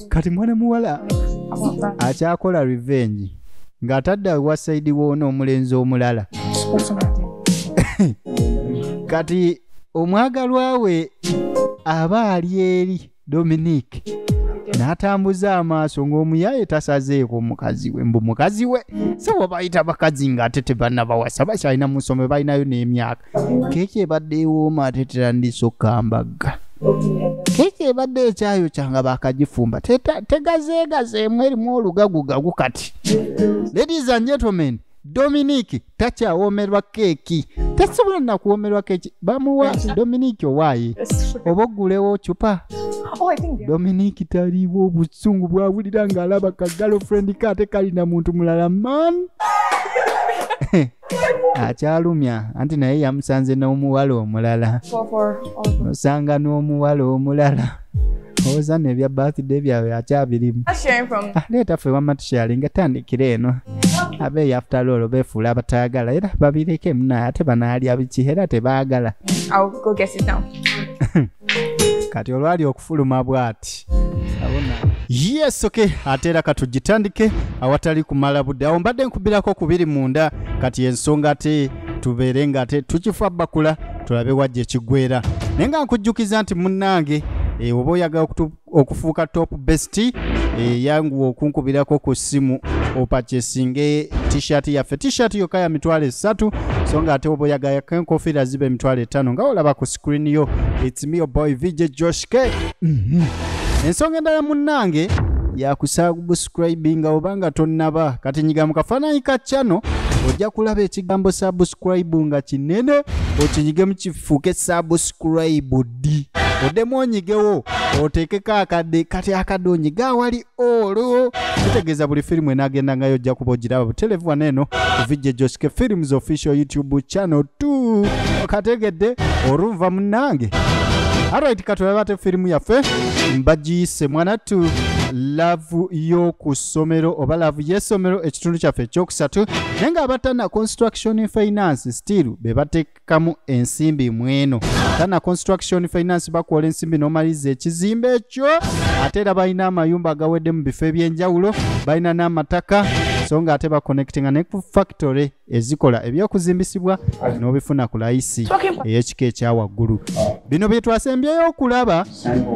kati mwana muwala akyakola revenge ng'atadde wa saidi woona omulenzi omulala kati omwagalwa we aba ali eri dominique n'atambuza amaaso ng'omuyaye tasazeeko mukazi we mbu mukazi we sebo bayita bakazi ng'ate tebanabawasa bakyalina mu nsomero balinayo n'emyaka keki ebadde ewooma ate terandiisa okukambagga keki ebadde ekyayo kyanga bakagifumba tegazeegazeemu erimu olugagugagu kati ladies and gentlemen dominic takyawoomerwa keeki tasobola nakuwoomerwa keeki bamuwa dominic owaaye oba oggulewo cupa oh, dominic taliiwo obusungu bwawulira ng'alaba ka galofrendi kaate kalina muntu mulala man akyalumya anti naye yamusanze n'omuwala omulala osanga n'omuwala omulala owoza no ebya birthday byawe akyabirimu aleeta ffe wama tusharinga tandikira eno abe yafutaloolo befuula abataagala era babireke munaye ate banaalya biki era tebaagala kati olwali okufuluma bwati yes ok ate era katugitandike awatali kumala budde awo mbadde nkubirako kubiri munda kati ensonga ate tubeere nga ate tukifa bakula tulabe wajja ekigwera naye nga nkujjukiza nti munnange eh, oba oyagala okufuuka top best eh, yanguwa okunkubirako ku ssimu opacesinge t-shirt yaffe t-shirt yokka ya mitwalo esatu so nga ate oba oyagayako enkofiira ziba emitwalo etaano nga olaba ku screen yo its me your boy vj josh k mhm. ensonga endala munnange yakusubscribinga oba nga tonnaba kati nyiga mu kafaananyi ka channel ojja kulaba ekigambo subscribe nga kinene okinyigemu kifuuke subscribe ddi oddemu onyigewo oteekeko akadde kati akadde onyiga awali olwo kitegeeza buli firimu enaagendangayo ojja kuba ogiraba butelevu wano eno kuvijja ejosike films official youtube channel 2 okategedde olunva munange arit katulabe ate firimu yaffe mbagiyise mwanattu laavu y'okusomero oba laavu y'essomero ekitundu kyaffe ekyokusatu naye nga abatana construction finance still be bateeka kamu ensimbi mweno tana construction finance bakuwola ensimbi nomaliza ekizimbe ekyo ate era balina amayumba agawedde mu bifo ebyenjawulo balina n'amataka so nga ate baconnectinga ne ku factory ezikola ebyokuzimbisibwa n'obifuna ku layisi ey'ekika ekya waggulu bino bye twasembyeyo okulaba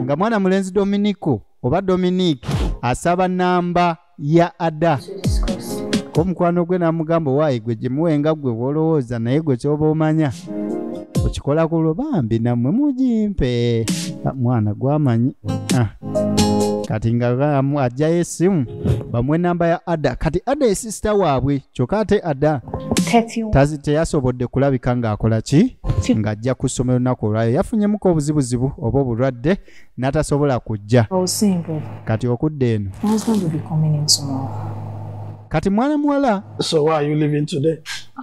nga mwana mulenzi dominico oba dominique asaba namba ya ada ko mukwano gwe namugamba waayi gwe gimuwenga gwe wolowooza naye gwe kyoba omanya okikola kulwo bambi namwe mugimpe ah, mwana gwamanyi ah. kati nga ajjayo esimu bamuwa enamba ya ada kati ada esisita waabwe kyokka ate ada teyasobodde kulabika ng'akola ki ng'ajja ku ssomero lunaku olwayo yafunyemuko obuzibuzibu oba obulwadde natasobola kujja oh, kati okudda eno kati mwana muwala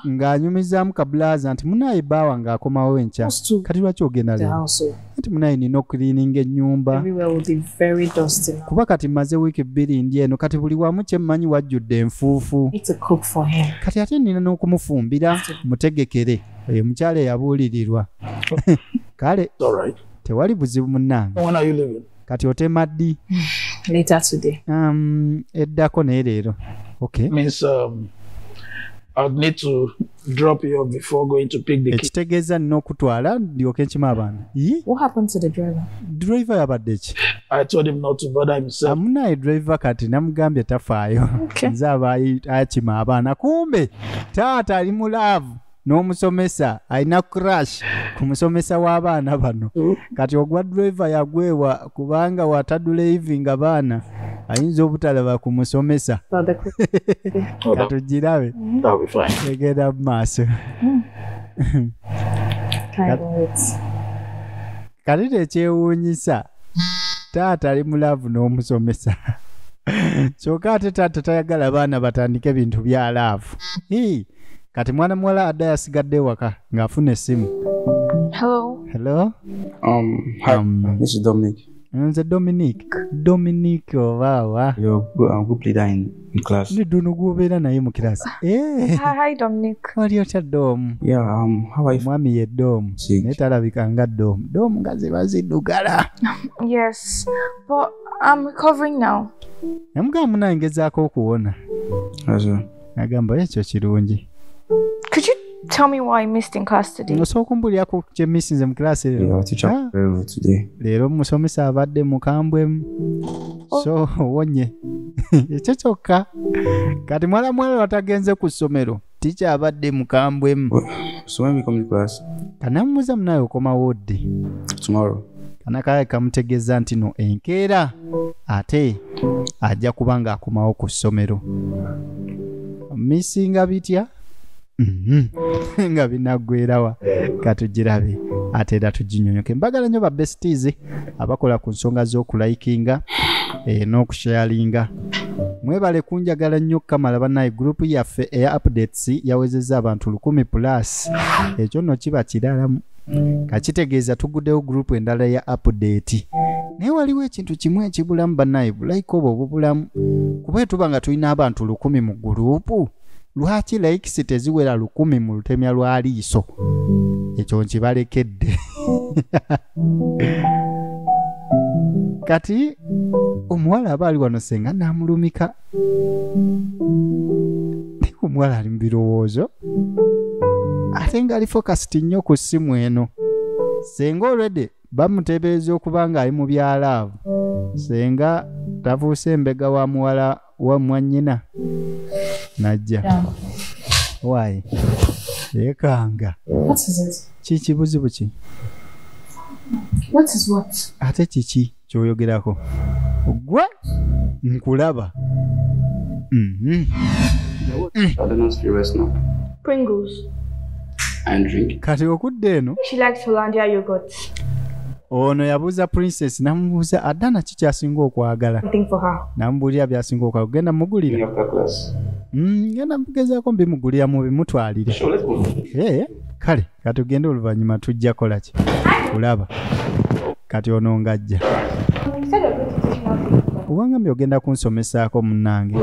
ng'anyumizaamu kabulaaza nti munaaye baawa ng'akomawo enkya kati lwaki ogenda le nti munaaye nina okuliininga ennyumba kuba kati mmaze wiiki bbiri ndi eno kati buli wamu kye mmanyi wajjudde enfuufu kati ate nina n'okumufumbira mutegekere oyo omukyala eyabuulirirwa kale tewali buzibu munnange kati otema ddi um, eddako naye leero um, ekitegeeza nina okutwala ndyoke nkima abaana driver yabadde ki amunaye driver kati namugambye tafaayo nze aba akima abaana kumbe taata ali mu laavu n'omusomesa alina crash ku musomesa w'abaana bano mm. kati ogwa driver yagwewa kubanga wataduleivinga baana ayinza obutalaba ku musomesa katugirabe egenda mu maaso mm. kati tekyewuunyisa taata ali mulaavu n'omusomesa kyoka ate taata tayagala baana batandike bintu bya laavu kati mwana muwala adda yasigadde ewaka ng'afuna essimu Hello. hello Um, hi, Um, this is Dominic. nze dominic dominic obaawa You're a good, a good leader in, in class. ndi duno gwobeera naye mu kirasi Eh, Hi, hi, Dominic. wali otya doomu Yeah, um, how are you? omwami ye doomu Six. naye talabika nga doomu doomu nga ziba ziddugala Yes, but I'm recovering now. namugamba munangezaako okuwona How's it? agamba ekyo kirungi Could you tell me why I missed in class today? osobola okumbulyako kye missinze mu class Yeah, leero our teacher Ah. was very rude today. leero omusomesa abadde mukambwemu so owonye ekyo kyokka kati mwala mwala watagenze ku ssomero tikya abadde mukambwemu So when we come to class kanamubuza munaye okomawo ddi tomorrow, kanakaye kamutegeeza nti no enkeera ate ajja kuba ng'akomawo ku ssomero misinga bitya mhm. nga binaggwerawa katugirabe ate era tuginyonyoke mbagala nnyo babestis abakola ku nsonga z'okulikinga eh, n'okusharinga mwebale kunjagala nnyo kamala banaye gurupu yaffe eya updates yawezezza abantu lukumi plus ekyo nno kiba kiralamu kakitegeeza tuguddewo gurupu endala ya apudeeti naye waliwo ekintu kimu ekibulamu banaye bulayika obwo obubulamu kuba etuba nga tulina abantu lukumi mu gurupu lwaki laikisi teziwera lukumi mu lutemya lwa liiso ekyo nkibalekedde kati omuwala aba ali wano senga namulumika naye omuwala ali mu birowoozo ate ngaali fokasiti nnyo ku ssimu eno senga olwedde bamuteebereza okuba ng'ali mu bya laavu senga tavuuse embega wa muwala wa mwannyina najja waayi yeekanga kiki buzibu ki ate kiki kyoyogerako gwe nkulaba mhm. kati okudda eno ono yabuuza princess namubuuza adana ki kyasinga okwagala namubuulira byasinga okwagala kugenda mugulira mm, ngenda mugezako mbimugulira mubimutwalire eh, kale kati ogenda oluvannyuma tujja kola ki kulaba kati ono ngajja kubanga mbi ogenda kunsomesaako munnange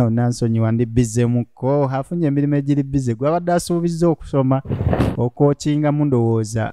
onansonyiwa ndi bizemuko afunye emirimu egiri bize gwabadde asuubizza okusoma okwokinga mundowooza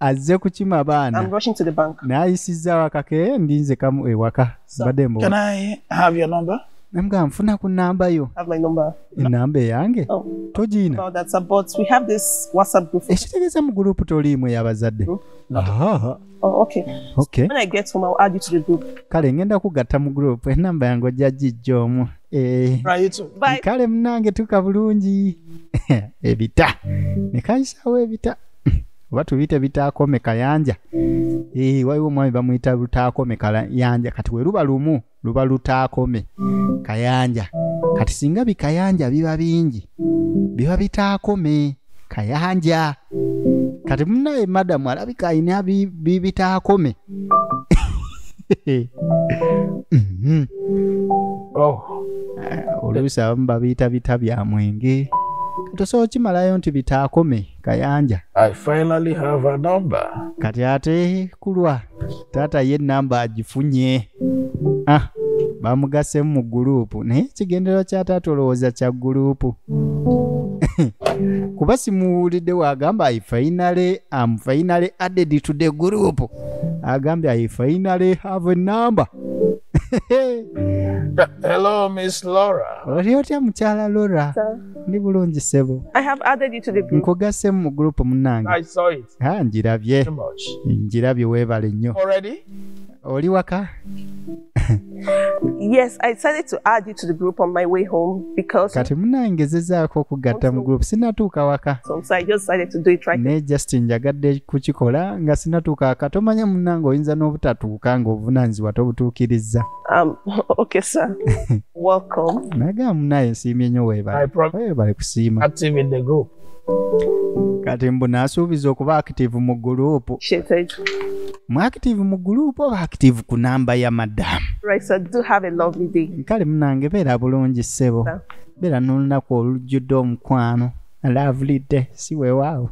azze kukima baana I'm rushing to the bank. n'ayisizza wakake ndinze kamu ewaka So, mbadde Can mbuwa I have your number? namugamba nfuna ku namba yo have my number. enamba eyange Oh, togiina about that, sir. But we have this WhatsApp group. ekitegeeza mu gurupu toliimu ey'abazadde Aha, Oh, okay. okay When I get home, I'll add you to the group. kale ngenda kugatta mu gurupu enamba yange ojja gijja omu Eh, Right, you too. Bye. kale munange tuka bulungi ebita nekayisaawo ebita oba tubiyite bitaakome kayanja ee eh, waliwo omwami bamuyita lutaakome kayanja kati we luba lumu luba lutaakome kayanja kati singa bikayanja biba bingi biba bitaakome kayanja kati munaye madamu alabika alina bibitaakome mhm. oh. eh, oluusi abamu babiyita bita bya mwenge tosobola kimalayo nti bitaakome kayanja I finally have a number. kati ate kulwa taata ye namba agifunye ah, bamugasemu mu guruupu naye ekigendererwa kya taata olowooza kya guruupu kuba simuwulidde wagamba i finally am finally added to the group agambye i finally have a number Hello, Miss Laura. oli otya mukyala lora ndi bulungi sebo I have added you to the group. nkugasemu mu gurupu munange I saw it. Ah, njirabye Too much. njirabye weebale nnyo Already? oli waka Yes, I decided to add you to the group on my way home because kati munange zezaako okugatta mu gurupu sinatuuka waka so, so I just decided to do it right. naye just njagadde kukikola nga sinatuuka waka tomanya munange oyinza n'obutatuuka ng'obuvunaanyizibwa tobutuukirizza Um, okay, sir. Welcome. Naga munaye nsiimye nnyo weebale. Weebale kusiima. Active in the group. Kati mbu nasuubiza okuba active mu group. Mu active mu group oba active ku namba ya madam. Right, so do have a lovely day. Kale munange beera bulungi ssebo. Beera n'olunaku olujjudde omukwano. lovely day si wewaawo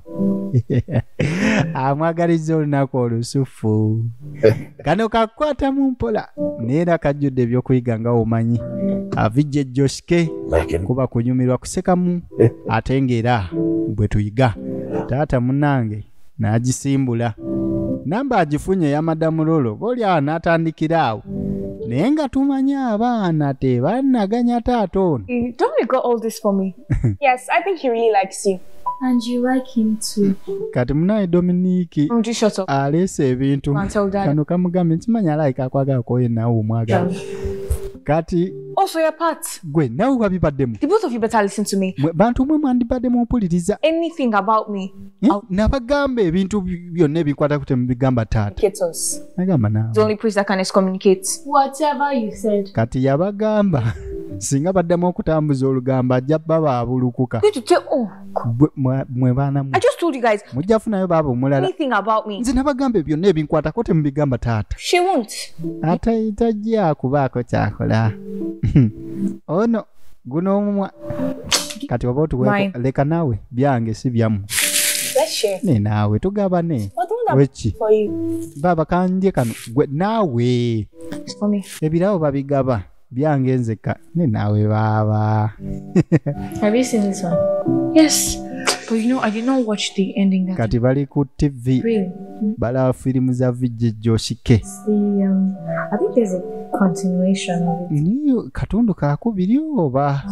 amwagaliza olunaku olusufu kano kakukwatamu mpola naye era kajjudde ebyokuyiga nga omanyi avijje joshke kuba kunyumirwa kusekamu ate ngaera bwe tuyiga taata munange n'agisimbula namba agifunye ya madamu lolo boolyawo n'atandikira awo naye nga tumanyi abaana tebannaganya taata ono mm, kati munaye dominiki aleese ebintu kano kamugambye nkimanyi alaika akwagala kwoyo nawe omwagala kati also your part gwe nawe wabibaddemu the both of you better listen to me bantu mwe mwandibaddemu mpuliriza anything about me nabagamba ebintu byonna ebikwata ku temubigamba taataagambakati yabagamba singa baddamu okutambuza olugambo ajja baba abulukuka oh, mwe baanamujja funayo baaba omulalanze nabagamba byonna ebinkwatako temubigamba taata ate tajja kubaako kyakola ono guno omumwa kati oba otuweko leka naawe byange si byamu ne naawe tugabane weki baba kanje kano gwe naawe ebirabo babigaba byange nzeka ne naawe baaba kati bali ku tv balaba firimu za vijjijjoshike see. Um, I think there's a continuation of it. Niyo katundu ka kubiri oba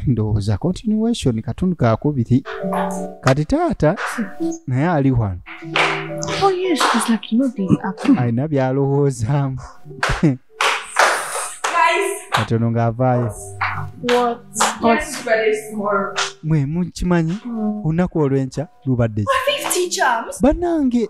ndowooza continuation katundu ka kubiri kati taata naye ali wano Oh yes, it's like you know the apple. alina byalowoozaamu kati ono ng'avaayo What? mwe mukimanyi olunaku olw'enkya lubadde ki? Teacher, banange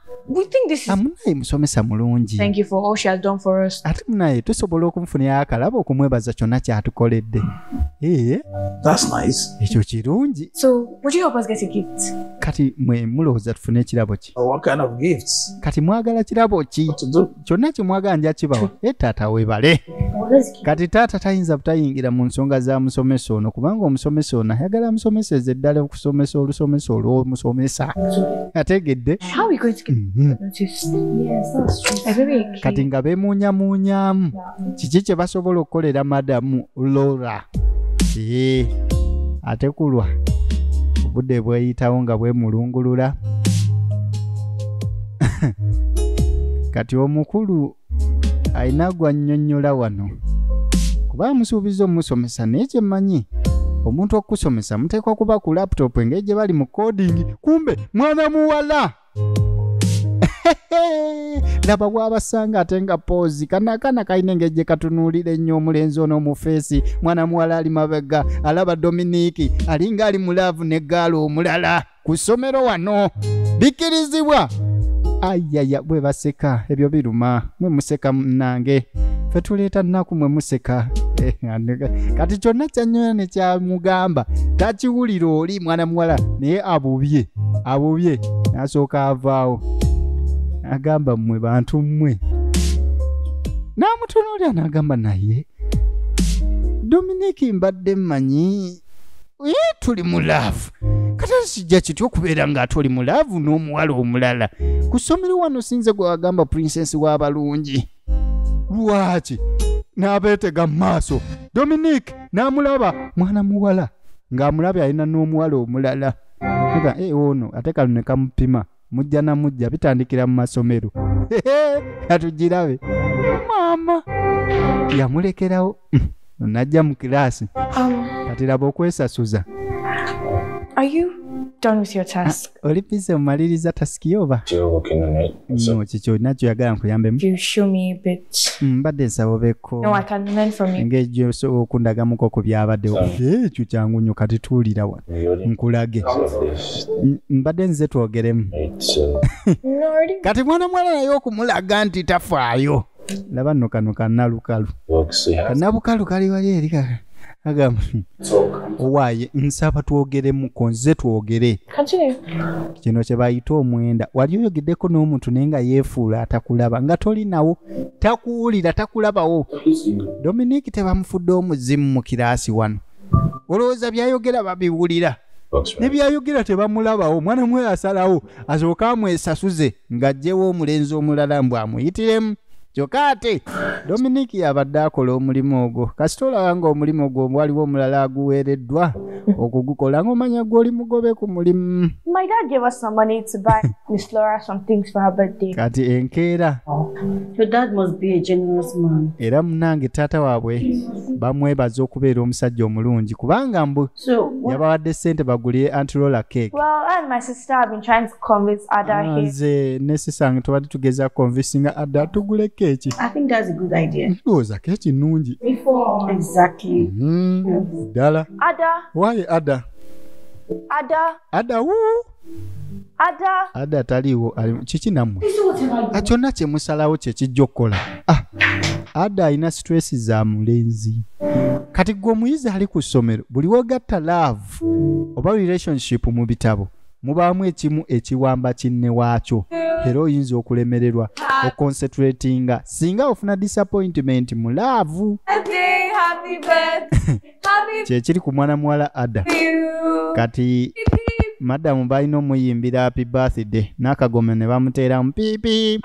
we think this is amunaye musomesa mulungi thank you for all she has done for us ate munaye tusobola okumfunira akalaba okumwebaza kyonna kyatukoledde ee that's nice ekyo kirungi so would you help us get a gift kati mwe mulowooza tufune ekirabo ki oh, what kind of gifts kati mwagala kirabo ki kyonna kyemwaga nja kibawa e taata webale kati taata tayinza butayingira mu nsonga za musomesa ono kubanga omusomesa ono ayagala amusomeseze eddala okusomesa olusomesa olwomusomesa ategedde mhm. kati nga bemunyamunyamu kiki kye basobola okukolera madamu lora ee ate kulwa obudde bweyitawo nga bwemulungulula kati omukulu alina gwannyonnyola wano kuba amusuubiza omusomesa naye kyemmanyi omuntu okukusomesa muteekwa kuba ku laputopu engeri gye bali mu kodingi kumbe mwana muwala laba bwabasanga ate nga poozi kana akaana kalina engeri gye katunuulira ennyo omulenzi ono omufeesi mwana muwala ali mabega alaba dominiki alinga ali mu laavu ne gaala omulala ku ssomero wano bikkirizibwa ayaya bwe baseka ebyo biruma mwe museka munange fe tuleeta nnaku mwe museka kati kyonna kyanyola ne kyamugamba takiwulira oli mwana muwala naye abubye abubye nasooka avaawo agamba mmwe bantu mmwe n'amutunuulira n'agamba naye dominiki mbadde mmanyi ye tuli mu laavu kata kijja kitya okubeera ng'ate oli mu laavu n'omuwala omulala ku ssomero wano sinze gwe wagamba prinsensi w'abalungi lwaki n'abeetega mu maaso dominique n'amulaba mwana muwala ng'amulabye alina n'omuwala omulala aga e ono ate kano ne kamupima mujja na mujja bitandikira mu masomero katugirabe maama yamulekerawo najja mu kiraasi um, kati laba okwesasuza oli bize omaliriza tasiki oba mm, kikyo olina kyoyagala nkuyambemu mm, mbadde nsaba obeko ngaejo osobola okundagamuko ku byabaddewo eh, ekyo kyangu nyo kati tuwulira wa nkulage mm, mbadde nze twogeremu uh, kati mwana mwala naye okumulaga nti tafaayo laba no kano kanalukalu kanabukalu kali wali eri kaka agamba owaaye nsaba twogeremuko nze twogere kino kye bayita omwenda wali oyogeddeko n'omuntu naye nga yeefuula atakulaba nga toli nawo takuwulira takulabawo dominiki tebamufudde omuzimu mu kiraasi wano olowooza byayogera babiwulira nebyayogera tebamulabawo omwana mwe asalawo asooke amwesasuze ng'aggyewo omulenzi omulala mbu amuyitiremu kyokka ate dominiki yabadde akola omulimu ogwo kasita olaba ng'omulimu gwo waliwo omulala aguweereddwa okugukola ng'omanya gw'oli mugobe ku mulimu kati enkeera oh. era munange taata waabwe bamwebaza okubeera omusajja omulungi kubanga mbu So what? yabawadde sente bagulire antirola cake well, and my sister have been trying to convince Ada ah, here. nze ne sisange tubadde tugeza convincinga ada tugule keeki I think that's a good idea. ndowooza keeki nnungi Before. Exactly. Mhm. ddala Ada, waye ada Ada. ada wuu ada ada ataliiwo kiki nammwe ah, kyonna kye musalawo kye kijja okukola ah, ada alina situreesi za mulenzi kati gwe omuyizi ali ku ssomero buli wogatta laavu oba relationship mu bitabo mubaamu ekimu ekiwamba kinne waakyo era oyinza okulemererwa okoncentratinga singa ofuna disappointment mu laavu kyekiri ku mwana muwala ada kati madamu balina omuyimbira happy birthday n'akagome ne bamuteeramu piipi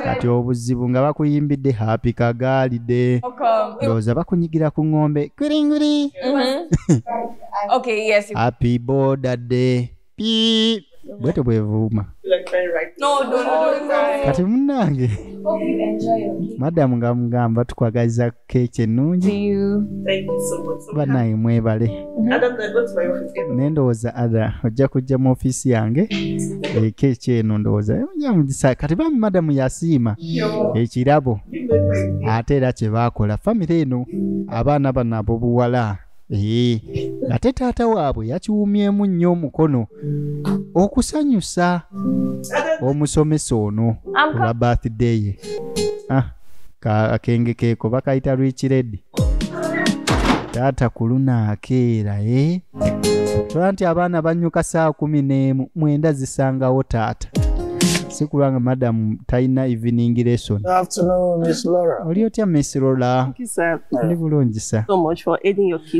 kati obuzibu nga bakuyimbidde happy kagaalide ndowooza bakunyigira ku ng'ombe kwiringwiri mm-hmm. happy boda day Beep. bwetyo bwevuuma No, don't, don't cry. kati munange Hope you enjoy your cake. madamu nga mugamba tukwagaliza keeki ennungi Thank you so much. So banaye mwebale Adam, I go to my office. Get naye ndowooza ada ojja kujja mu ofiisi yange eh, keeki eno ndowooza eh, ojja mugisa kati bambi madamu yasiima ekirabo ate era kye baakola famire eno abaana bano abobuwala Ee, ate taata waabwe yakiwumyemu nnyo omukono okusanyusa omusomesa ono I'm olwa birthday ye ah, ka- akenge keeko bakayita rwikiredi taata ku luno akeera e tola nti abaana bannyuka saa kumi n'emu mwenda zisangawo taata si kulwanga madam talina evening lesson oli otya miss lola ndi bulungi sa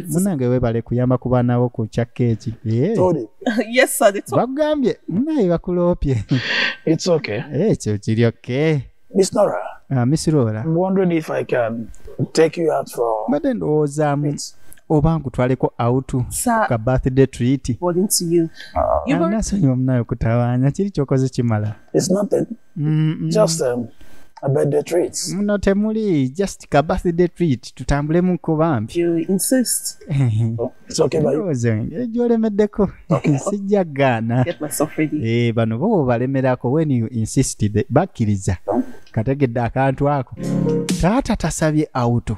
munange webale kuyamba ku baana bo ku kya keeki eh. bakugambye munaye bakuloopye ekyo eh, kiri oke ah, miss lola mbadde ndowoozaamu oba nkutwaleko out ka birthday treat nasonyiwa munaye okutawaanya kiri kyokoze kimala muno temuli just ka birthday treat tutambulemu ko bambi gyolemeddeko sijja gaana eh, bano bo balemerako wen you insisted bakkiriza kategedde akantu ako taata tasabye auto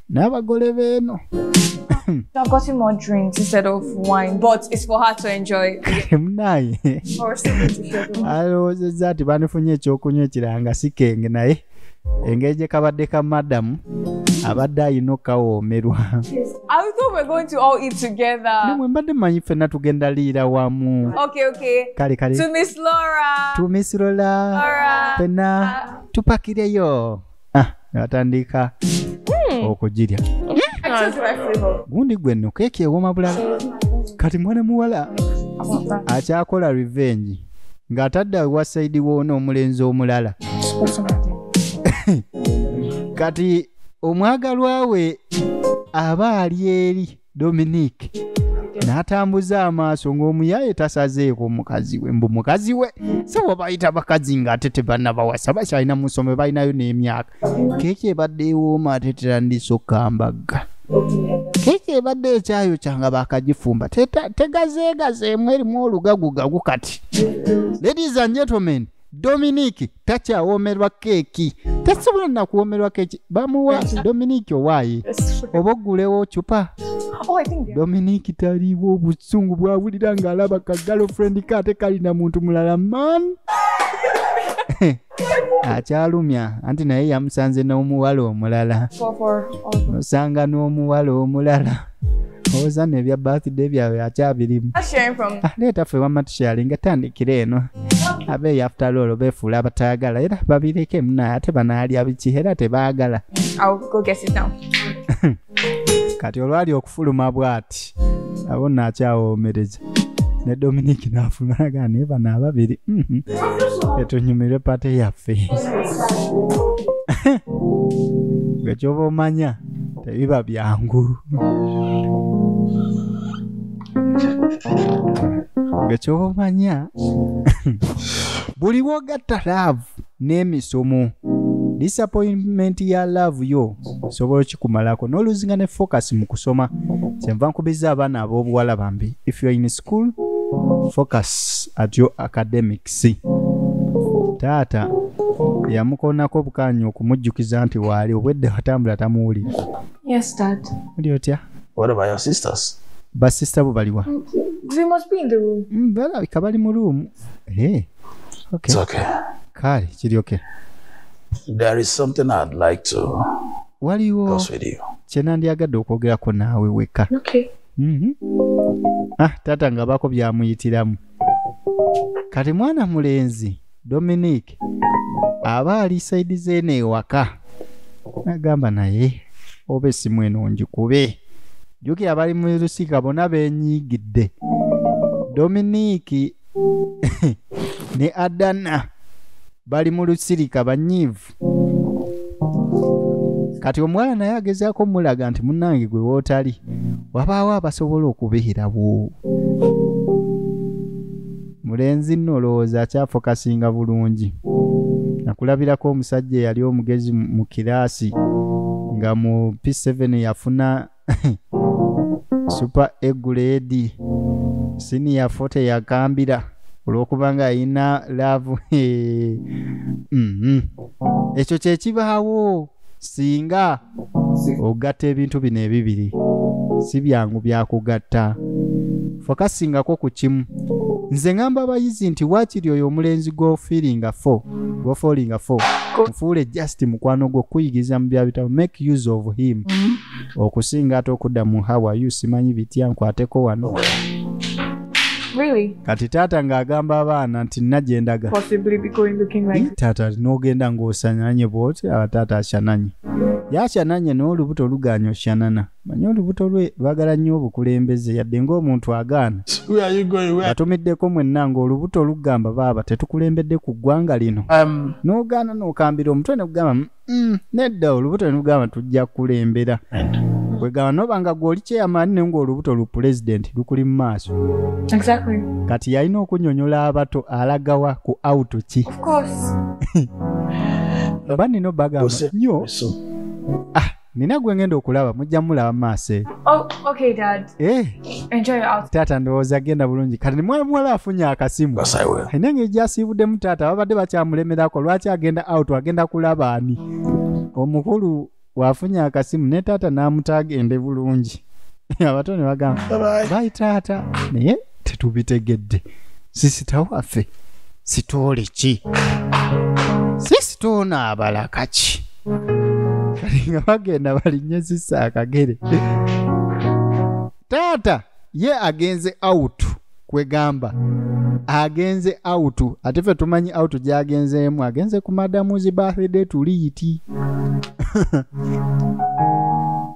n'abagole beeno I've gotten more drinks instead of wine, but it's for her to enjoy. munaye Or something to share with her. alowoozezza nti banifunye ekyokunywa ekiranga si kenge naye engeri gye kabadde ka madamu abadde alina okukawoomerwa I thought we're going to all eat together. namwe mbadde manyi ffenna tugenda liira wamu Okay, okay. kale kale To Miss Laura. tumisirola Laura. ffenna tupakireyo ah, nebatandika hmm. okugirya gundi gwe nno keeki ewoma bulala kati mwana muwala akyakola revenge ng'atadde wa saidi woona omulenzi omulala kati omwagalwa we aba ali eri dominique n'atambuza amaaso ng'omuyaye tasazeeko mukazi we mbu mukazi we sebo bayita bakazi ng'ate tebannabawasa bakyalina mu ssomero balinayo n'emyaka keeki ebadde ewooma ate terandisa okukambagga keeki ebadde ekyayo kyanga bakagifumba tegazeegazeemu erimu olugagugagu kati ladies and gentlemen dominic takyawoomerwa keeki tasobola nakuwoomerwa keeki bamuwa dominic owaayi oba ogulewo cupa Oh, I think dominic taliiwo obusungu bwawulira ng'alaba ka girlfriend ke ate kalina muntu mulala man akyalumya anti naye yamusanze n'omuwala omulala for, for all osanga n'omuwala omulala owozano ebya birthday byawe akyabirimu leeta ah, ffe wamma tushalinga tandikira eno abeeyo after all beefuula abatayagala era babireke muna ate banaalya biki era tebaagala kati olwali okufuluma bwati abo naakyawoomereza ne dominiki naafulumanaga naye bano ababiri mhm. etunyumirwe pate yaffe gwe kyoba omanya tebiba byangu nga kyoba omanya buli wogatta laavu n'emisomo disappointment ya laavu yo osobola okikumalako n'oluzinga ne focus mu kusoma kyenva nkubizza abaana ab'obuwala bambi if you're in school focus at your academics taata yamukonako bukanyi okumujjukiza nti waali obwedda watambula tamuwulira yes dad oli otya what about your sisters basista bo baliwa mm, balabika bali mu room eh, kale kiri oke waliwo kyenandyagadde okwogerako naawe weka Mhm. ah taata nga bako byamuyitiramu kati mwana mulenzi dominic aba ali saidi zeeno ewaka nagamba naye oba esimu eno ngikube jukira bali mu lusika bona benyigidde dominic ne adana bali mu lusirika banyiivu kati omuwala naye agezaako omulaga nti munange gwe wootali wabaawo abasobola okubeerawo mulenzi nno olowooza akyafokasinga bulungi nakulabirako omusajja eyali omugezi mu kiraasi nga mu p7 yafuna super eguledi siniya fote yagambira olwokuba nga ayina laavu mm-hmm. ekyo kyekibaawo singa ogatta ebintu bino ebibiri si byangu byakugatta fokasingako ku kimu nze ngamba abayizi nti waakiri oyo omulenzi gwofiiringa fo gwofolinga fo nfuule just mukwano gwo kuyigiriza mu byabitabo make use of him mm -hmm. okusinga ate okudda mu hawayu simanyi bitya nkwateko wano Really? kati taata ng'agamba abaana nti najendaga like... taata nogenda ng'osananye bwoti aba taata ashananye yashananye n'olubuto oluganya oshanana manye olubuto lwe lwagala nnyo obukulembeze yadde ng'omuntu agaana batumiddeko mwenna ng'olubuto olugamba baaba tetukulembedde ku ggwanga lino um, n'ogaana n'okambira omutwe ne kugamba Mm, nedda olubuto nelugamba tujja kulembera kwegamba noba nga gwoli chairman ne ngaolubuto lu president lukuli mu maaso Exactly. kati yalina okunyonyola abato alagawa ku out ki Of course. oba nino bagamba Ose- nyo so nina gwengenda okulaba mujja mulaba maaso eyo Oh, okay, Dad. eh taata ndowooza agenda bulungi kati ne mwana muwala afunye akasimu alina engeri gyasiibuddemu taata babadde bakyamulemerako lwaki agenda out agenda kulaba ani omukulu wafunye akasimu ne taata n'amuta agende bulungi abato ne bagamba bayi taata naye tetubitegedde sisita waffe sitoole ki sisita ono abalaka ki kati nga bagenda balinye sisa akagere taata ye agenze out kwegamba agenze out ate fe tumanyi out gyagenzeemu agenze ku madamu zi birthday tuliiti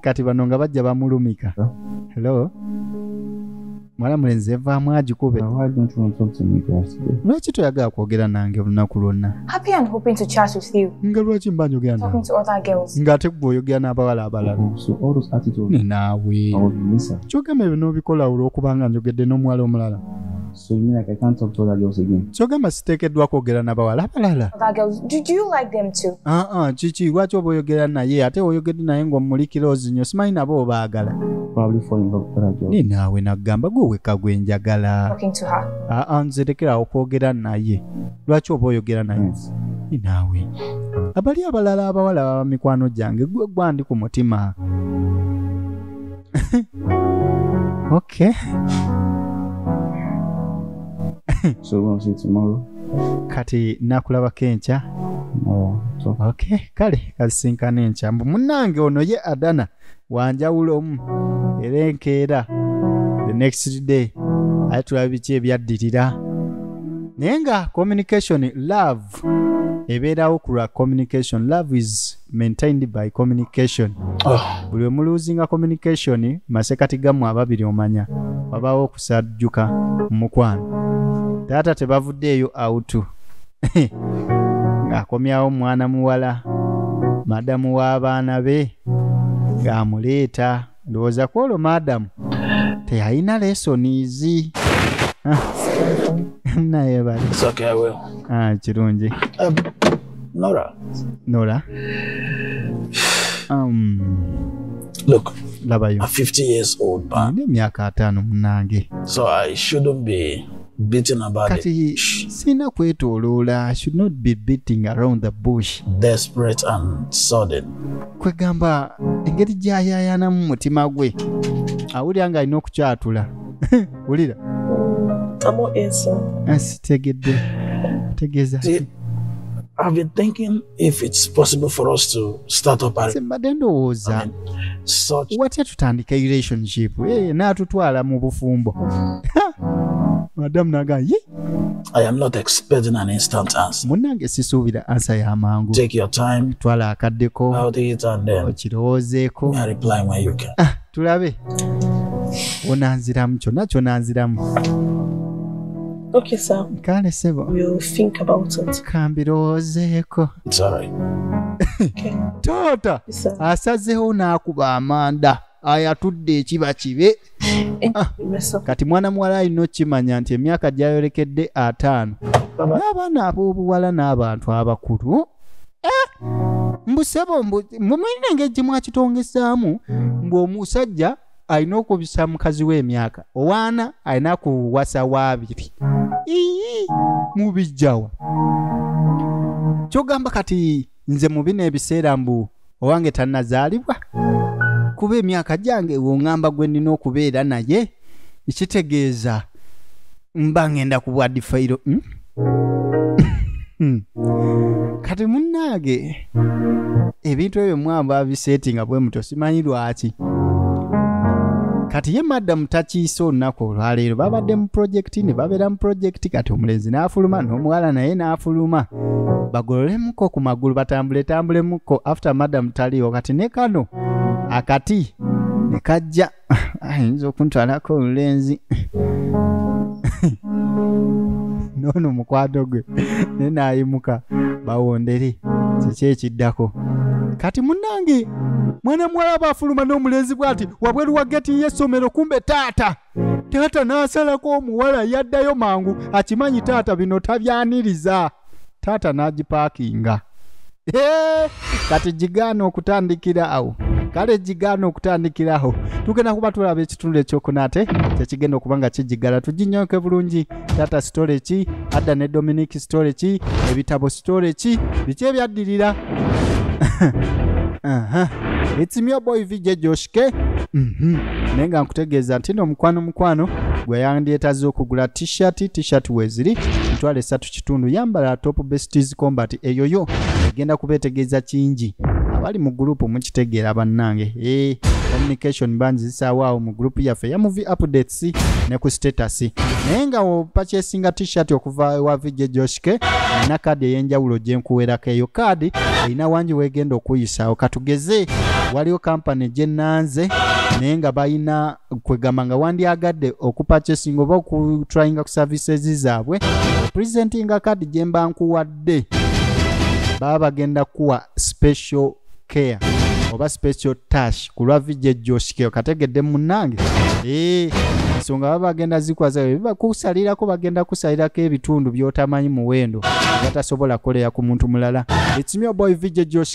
kati bano nga bajja bamulumika hello mwala mulenzi evaamu agikube Now, why don't you want to talk to me class today? lwaki toyagala kwogera nange olunaku lwonna Happy and hoping to chat with you. nga lwaki mba njogera Talking nawe to other girls. ng'ate gwe oyogera n'abawala abalala Oh, so all those attitudes ne naawe I was missing. kyogamba ebyo n'obikola olw'okuba nga njogedde n'omuwala omulala So you mean like I can't talk to other girls again? kyogamba siteekeddwa kwogera n'abawala abalala Other girls. Do, do you like them too? aa kiki lwaki oba oyogera naye ate oyogedde naye ng'omulikira ozinyo simanyi nabo obaagala probably fall in love with other girls. Ninaawe nagamba gwe weka gwe njagala. Talking to her. Ah, ah nze lekera okwogera naye. Lwaki oba oyogera naye? Hmm. Ninaawe. Abali abalala abawala baba mikwano gyange gwe gwandi ku mutima. okay. so we'll see tomorrow. Kati nakulaba kencha. Oh, okay. Kale kasinkana encha. Munange ono ye Adana. wanjawulomu era enkeera the next day ate tulaba biki ebyaddirira naye nga communication love ebeerawo ku lwa communication love is maintained by communication oh. buli oh. omuluuzinga communication masekati gamu ababiri omanya wabaawo okusajjuka mukwano taata tebavuddeeyo autu ng'akomyawo mwana muwala madamu w'abaana be ng'amuleeta ndowooza ku olwo madamu teyalina lesonizi ah. naye bali ah, kirungi um, nora nora um, look labayo a 50 years old man emyaka ataano munange so i shouldn't be beating about kati sina kwetoloola should not be beating around the bush desperate and sudden kwegamba engeri gyayayanamu mutima gwe awulira nga alina okukyatula wulira sitegedde tegeeza I've been thinking if it's possible for us to start up a mbadde ndowooza watya tutandika relationship eh, naatutwala mu bufumbo madamu naga ye I am not expecting an instant answer. Munange sisuubira ansa ya mangu. Take your time. Twala akaddeko. How do you turn them? Okirowoozeeko. I reply when you can. Ah, tulabe. Onanziramu kyonna kyonanziramu. Okay, sir. Kale sebo. We'll think about it. Kambirozeeko. It's all right. okay. Taata asazeewo n'akuba amanda ayatudde ekiba kibe eh, ah, kati mwana muwala alina okukimanya nti emyaka gyayolekedde ataano n'abaana ab'obuwala n'abantu abakulu eh, mbusebo mbu mulina engeri gye mwakitongezaamu mbu omusajja alina okubisa mukazi we emyaka owaana alina kuwasa waabiri ii mubijjawa kyogamba kati nze mu bino ebiseera mbu owange tannazaalibwa kuba emyaka gyange wongamba gwe nnina okubeera naye ekitegeeza mba ngenda ku bwa difayiro hmm? Hmm. kati munnaage ebintu ebyo mwamba abiseeti nga bwe muto simanyi lwaki kati ye madamu takiise olunaku olwaleero babadde mu pulojekiti ne babeera mu pulojekiti kati omulenzi n'afuluma n'omuwala naye n'afuluma bagololemuko ku magulu batambule tambulemuko after madamu taliiwo kati ne kano akati ne kajja ayinza okuntwalako olulenzi noono mukwado gwe naye naayimuka bawondere kiki ekiddako kati munange mwana muwala aba afuluma n'omulenzi bw'ati wabweru wa geti y'essomero kumbe taata taata n'asalako omuwala yaddayo mangu akimanyi taata bino tabyaniriza taata n'agipaakinga Hey, kati gigaana okutandikira awo kale gigaana okutandikira awo tugenda kuba tulaba ekitundu ekyokuna ate kyekigenda okuba nga kigigala tuginyoke bulungi tata sitole ki adda ne dominic sitole ki ebitabo sitole ki biki ebyaddirira Aha. It's me your boy VJ Josh K. Mhm. Naye nga nkutegeeza nti no mukwano mukwano gwe yandyetazza okugula t-shirt t-shirt weeziri mitwalo esatu ku kitundu yambala top besties combat eyo yo egenda kubeetegeeza kingi abali mu gurupu mukitegeera bannange ee eh, communication bangi zisaawo awo mu gurupu yaffe ya muvi updates ne ku status naye nga opakyesinga t-shirt okuva ewa vijje joshke erina kaadi ey'enjawulo gye nkuwerako eyo kaadi erina wangi weegenda okuyisaawo katugeze waliwo kampani gye nanze naye nga balina kwegamba nga wandyagadde okupachesinga oba okutryinga ku services zaabwe presentinga kadi gye mba nkuwadde baba bagenda kuwa special care oba special tash ku lwa vijja joshikeo kategedde munange ee eh, ensonga baba bagenda zikwaza bibakusalirako bagenda kusalirako ebitundu byotamanyi muwendo batasobola kolera ku muntu mulala ekimyoboy vijja josh